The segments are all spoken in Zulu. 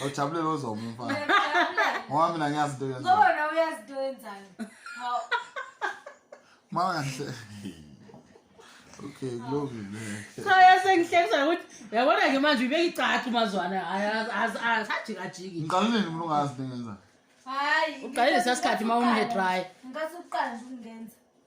Awujabulele ozoba umfana. Ngoba mina ngiyazi into yenzayo. Ngoba nawe uyazi into yenzayo. Hawu. Manje. Okay, kulungile. So yasengihlekisa ukuthi uyabona ke manje ubeka icathi umazwana asajiki ajiki. Ngiqala nini umuntu ungazi into yenzayo? Hayi. Uqalile sesikhathi uma umhe dry. Ngikathi uqala nje ukungenza.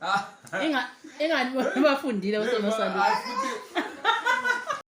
Ah. Inga ingani bafundile uSonosalile.